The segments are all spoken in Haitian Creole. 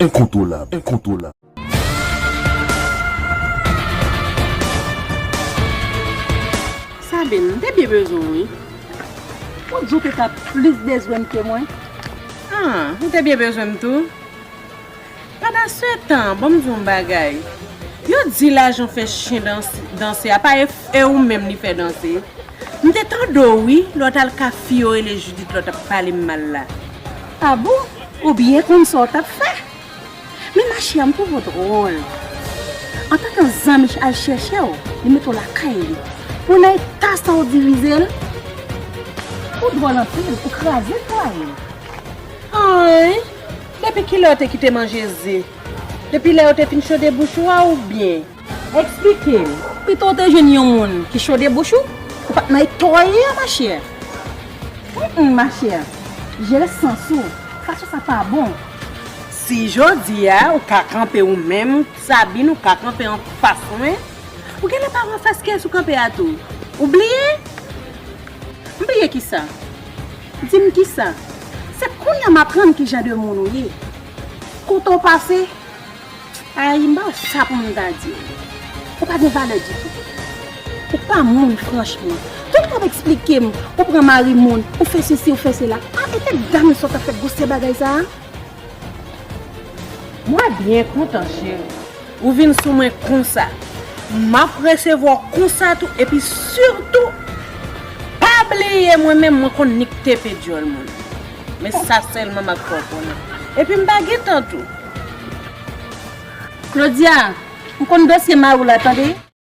Enkontwolab Sabine, m te byen bezwen w wi. Ou t di w te tap plis bezwen m ke mwen? An, ou te byen bezwen m tou. Papa setan banm di w yon bagay yo di lajan fè chyen danse a pa e ou menm li fè danse m te tande w wi lè w t al ka fi yo rele Judith lè w t ap pale m mal la. Ah bon ou byen konn sa w t ap fè men ma chè m twouve w dwòl antan ke zanmi al chèche w li mete w lakay li pou w nan eta sa w divize l ou dwòl anpil ou kraze fwaye l. Anh! Depi kilè ou te kite manje ze? Depi lè yo te fin chode bouch ou a oubyen? Eksplike m. Pito w te jwenn yon moun ki chode bouch ou, ou pa t nan eta w ye a machè. Hum machè, jere sans ou, fason sa pa bon. Si jodi a ou ka kanpe ou menm, Sabine ou ka kanpe anfas mwen, ou gen lè pa wè anfas kès ou kanpe a tou. Ou bliye? M bliye kisa? Di m kisa? Se kounya m aprann ki jan de moun ou ye. Kote w pase? Ayy, m pa wè sa pou m ta di w. Ou pa gen valè ditou. Ou pa moun franchman. Tout wap eksplike m, ou pran mari moun, ou fè sesi, ou fè sela. Aah, e tèt dam sa w tap fè gwosè bagay sa a? Mwen byen kontan cheri. Ou vin sou mwen konsa. Map resevwa w konsa tou epi sitou pa bliye mwen menm mwen konn nik tepe dyòl moun. Men sa sèlman map fè w konnen. Epi m pa gen tan tou. Claudia, ou konn dosye mari w la tande.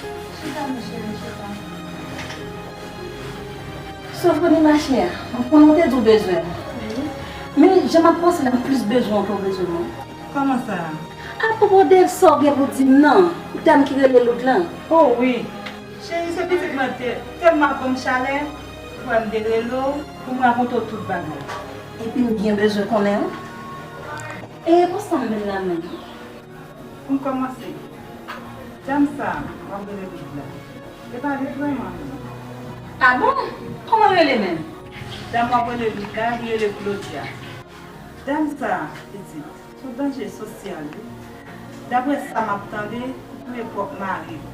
Chita non cheri chita. Sofoni machè, mwen konnen w te di w bezwen m. Wi. Men jan m ap panse la m plis bezwen w ke w bezwen mwen. Kòman sa? Apwopo de sa w gen pou di m nan, dam ki rele Lout lan. O wi. Cheri se pitit mwen te tèlman ap ban m chalè, fwa m te rele w pou m rakonte w tout bagay. Epi m byen bezwen konnen w. E pou sa m vin la menm? Pou n kòmanse, dam sa a w ap rele Big la, e pa li vrèman non. A bon? Kòman l rele menm? Dam w ap rele Big la, li rele Claudia. Dam sa a, pitit, s on danje sosyal wi. Daprè sa m ap tande, li touye pwòp mari l.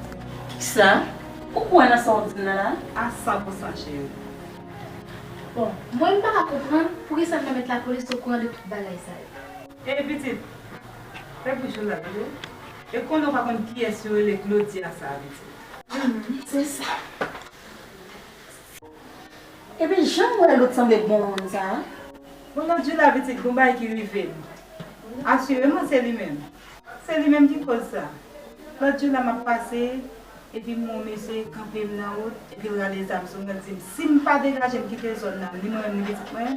Kisa? Ou kwè nan sa w di m nan la a? A san pou san cheri. Bon, mwen m pa ka konprann poukisa l pa met lapolis okouran de tout bagay sa yo. Ey pitit, fè bouch ou la tande. E konnen w pa konn kiyès yo rele Claudia sa a pitit. Humm se sa. Epi janm wè lôt sanble bon moun sa a. Bon lôt jou la pitit gon bagay ki rive m. Asireman se li menm. Se li menm ki koz sa. Lôt jou la map pase epi m wè yon mesye kanpe m nan wout epi l rale zam sou mwen l di m si m pa degaje m kite zòn nan ni mwen menm ni pitit mwen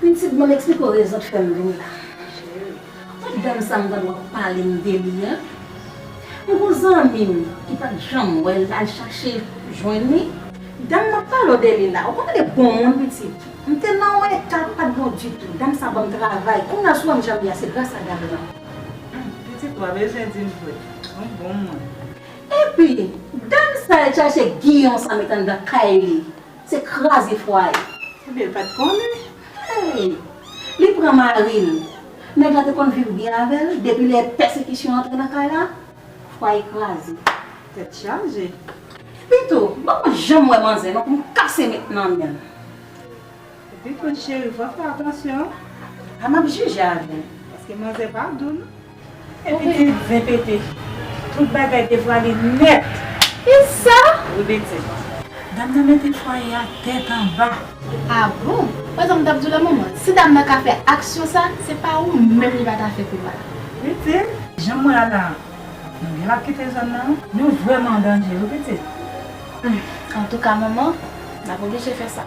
Pitit banm explike w rezon k fèm vini la cheri ou dam sa m tande wap pale m de li an m gon zanmi m ki pat janm wè l al chache jwenn li dam map pale w de li la ou konn li bon moun pitit m te nan yon eta m pat bon ditou dam sa banm travay kounya w sou wèm janm ye a se gras a dam nan. Pitit wap bezwen di l vre ou bon moun. Epi dam sa al chache giyon sa met anndan kay li. Se kraze fwaye. Ebyen l pat konnen. Hey! Li pran mari l. Nèg la te konn viv byen avè l, depi lè pèsekisyon antre nan kay la, fwaye kraze. Tèt chaje. Pito, banm mwen janm wè manzè non pou m kase met nan men l. Pito cheri fò fè atansyon. A map jije avè l. Paske manzè pa dou non. Epi tou zen pete. Tout bagay devwale nèt. Ki sa? Wi Beti. Dam nan mete fwaye a tèt anba. A bon! Wè sa m t ap di w la manman. Si dam nan ka fè aksyon sa, se pa ou menm li pa ta fè pi mal. Beti, jan m wè a la, nou gen l ap kite zòn nan. Nou vrèman an danje wi Piti. Antouka manman, n ap oblije fè sa.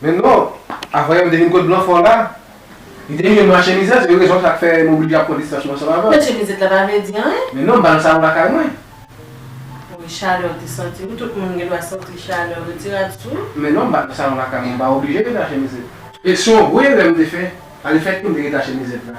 Men non, avan yo m te vin kot blan fò la. Li te rive m mache mizèt, se yon rezon sa k fè m oblije ap pran distans mwen ansanm avè w. Mache mizèt la pa vle di anyen. Men non, m pa nan salon lakay mwen. Wi, chalè w te santi. Wi, tout moun gen dwa santi chalè. Retire rad sou ou. Men non, m pa nan salon lakay mwen. M pa oblije rete ache mizèt. Se yon gwo erè m te fè. Alefètke m te rete ache mizèt la.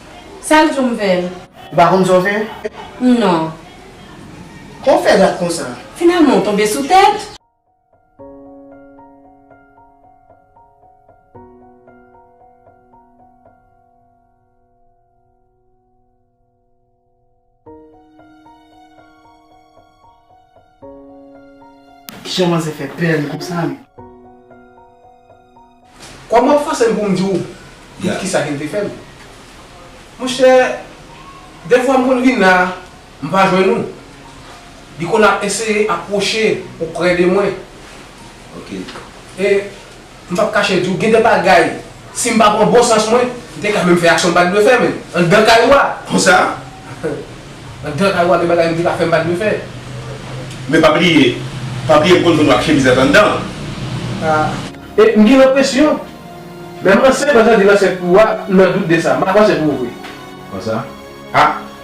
Sal diw m vel. Ou pa konn sa w fè? Non. Kman w fè dat konsa? Finalman w tonbe sou tèt? Jan manzè fè pè li konsa menm. Kòm wap fòsem poum diw tout kisa kel te fèm. Monchè dèfwa m konn vin la m pa jwenn ou. Li konn ap eseye apwoche oprè de mwen. Ok. E. M pap kache di w, gen de bagay, si m pa pran bon sans mwen, m te ka menm fè aksyon m pa t dwe fè menm, anndan kay ou a. Konsa? Anndan kay ou a gen bagay m te ka fè m pa t dwe fè. Men pa bliye, pa bliye m konn jwenn w ak chemizèt anndan an. A. E m gen enpresyon, menm ansent m ap tande nan ansent ou a, m nan dout de sa. M ap ansent pou ou vre. Konsa? Ha?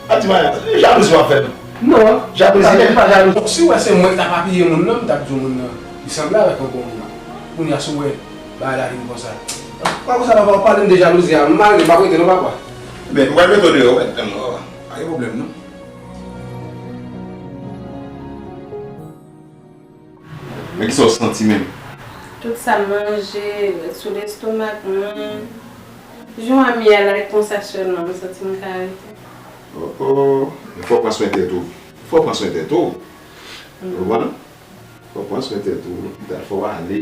Ap di Maya, e jalouzi wap fè tou? Non, jalouzi mwen pa jalouzi. Siw wè se mwen ki tap apiye moun nan, m tap di w moun nan li sanble avèk yon bon moun. Kounya si w wè bagay la vin konsa. Pa konsa papa, ou pale m de jalouzi a, m mare, m pap rete non papa. Ebyen nou pral mete w deyò wè, tann wè, pa gen pwoblèm non. Men kisa w santi menm? Tout sa m manje ret sou lestomak mwen. Jou a miyè like konsa sèlman m santi m ka rete. Oh oh. Men fò w pran swen tèt ou. Fò w pran swen tèt ou. Ou konprann? Fò w pran swen tèt ou. Lopital fò w ale.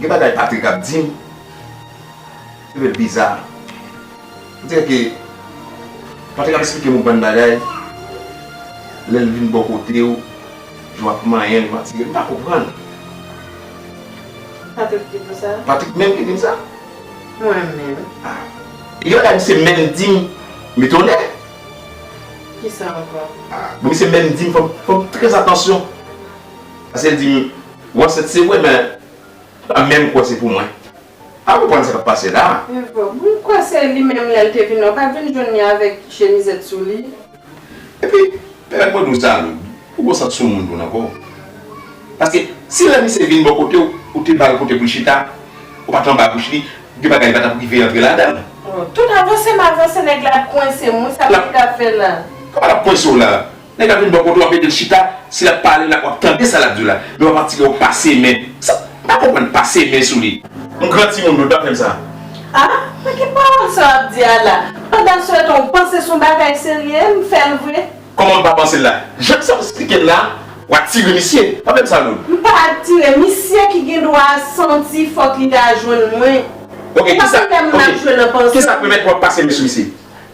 Gen bagay Patrick ap dim trvl biza on dirè ke Patrick ap esplike yon bann bagay lèl vin bò kotew jan wap manyenl wap tirel m pa konprann Patrick ki diw sa? Patrick menm ki dim sa? Mwen menm. Ah. E gen bagay misye menm dim m etone. Kisa ankò? Ah bon misye menm dim fòm fòm trè atansyon paskel dim Ou ansent se vre men ou pa menm kwè se pou mwen. M pa konprann sa k ap pase la a. Evo, Mwen kwè se li menm lè l te vin la. Ou pa t vin jwenn li avèk chemizèt sou li? Epi, pèmèt mwen di w sa Aloud, ou gon sant soumoun tou nan kò w. Paske, si lè misye vin bò kote w, ou te ba l kote pou l chita, ou pa t anba bouch li, gen bagay li pa t ap rive antre ladan l. Tout avanse m avanse nèg la ap kwense m wi, sa misye t ap fè la a? Kòman l ap kwense w la a? Nèg la vin bò kote w ap ede l chita, si l ap pale la w ap tande sa l ap di w la, men w ap atire w pase men. Sa, m pa konprann, pase men sou li. M gran timoun dwe pa fè m sa. A, men ki pawòl sa w ap di a la? Pandan se tan w panse s on bagay serye, m fè l vre. Kòman m pa panse l la? Jan sa w esplike l la, w atire misye. Pa fè m sa non. M pa atire, misye ki gen dwa santi fòk li ta jwenn mwen. Ok, kisa, ok, kisa k pèmèt w ap pase men sou misye?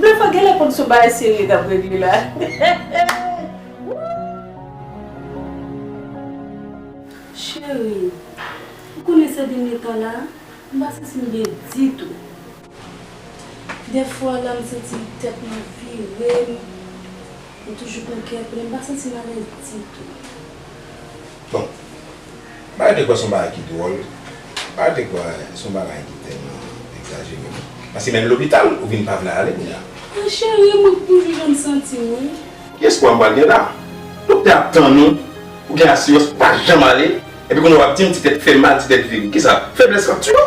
Nafa genlè konn son bagay serye kap regle la wouuyy. Cheri, ou konnen sè dènye tan la, m pa santi m byen ditou. Dèfwa la m santi tèt mwen ap vire m, m toujou pran kè plen, m pa santi m alèz ditou. Bon, bagay dekwa se yon bagay ki dwòl, bagay dekwa se yon bagay ki tèlman egzajere. Paske menm lopital ou vin pa vle ale kounye a. An cheri, mwen k toujou jan m santi m wi. Ki espwa m pral gen la? Doktè ap tann ou, ou gen asirans pou pa janm ale, epi kounye a w ap di m ti tèt fè mal, ti tèt vin. Kisa? Feblès k ap tiye w?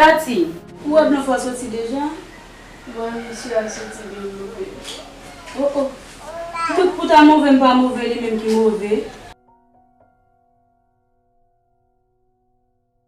Katy, ou wè blan fò soti deja? Mwen wè misye ap soti byen move. Oh oh! Tout pou ta move m pa move li menm ki move.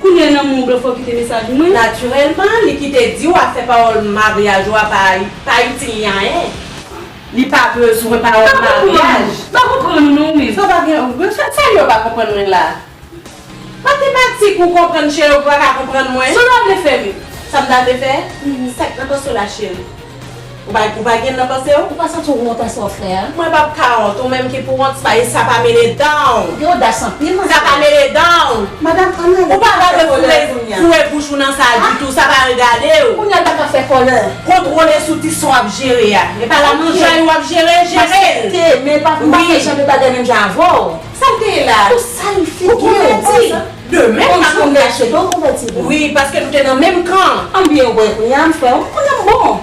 Kounya nan men w blofè w kite mesaj mwen. Naturellement li kite diw afè pawol maryaj ou a pa pa itil li anyen. Li pa bezwen pawol maryaj. M pa konprann ou non ou menm. Sa pa gen ouvri chat sa yo pa konprann mwen la. Matematik ou konprann cheri ou pa ka konprann mwen. Sola vle fè m. Sa m ta vle fè? Sak nan tò Sola cheri. Ou pa gen nan panse w? Ou pa santi w wont an sa w fè a? Mwen pa p ka wont. Ou menm ki pou wont, sa e sa pa mele dan w. Ou gen odas anpil ma sè. Sa pa mele dan w. Madam an n ale. Ou pa ka fè kòlè kounya. Foure bouch ou nan sa ditou. Sa pa regade w. Kounya l pa ka fè kòlè. Kontwole sou ti sa w ap jere a. E pa la manjay ou ap jere, jere l. Mwen aksepte, men m pa fè jan de bagay menm jan avè w. Sa l te ye la? Ou sal figi w. Ou konn sa di. De menm Kòmsi w te achete w konvèti vre? Wi, paske nou te nan menm kan. An byen ou wè kounya m fè w konnen m bon.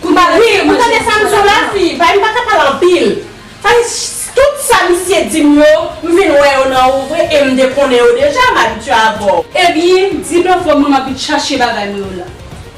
Kounya m ap manje nan sou la blan. Wi, ou tande sa m di w la fi, vay m pa ka pale anpil. Fany, Tout sa misye di m yo, m vin wè yo nan ou vre e m te konnen yo deja, m abitye avè w. Ebyen, di blan fò m m ap vin chache bagay mwen yo la.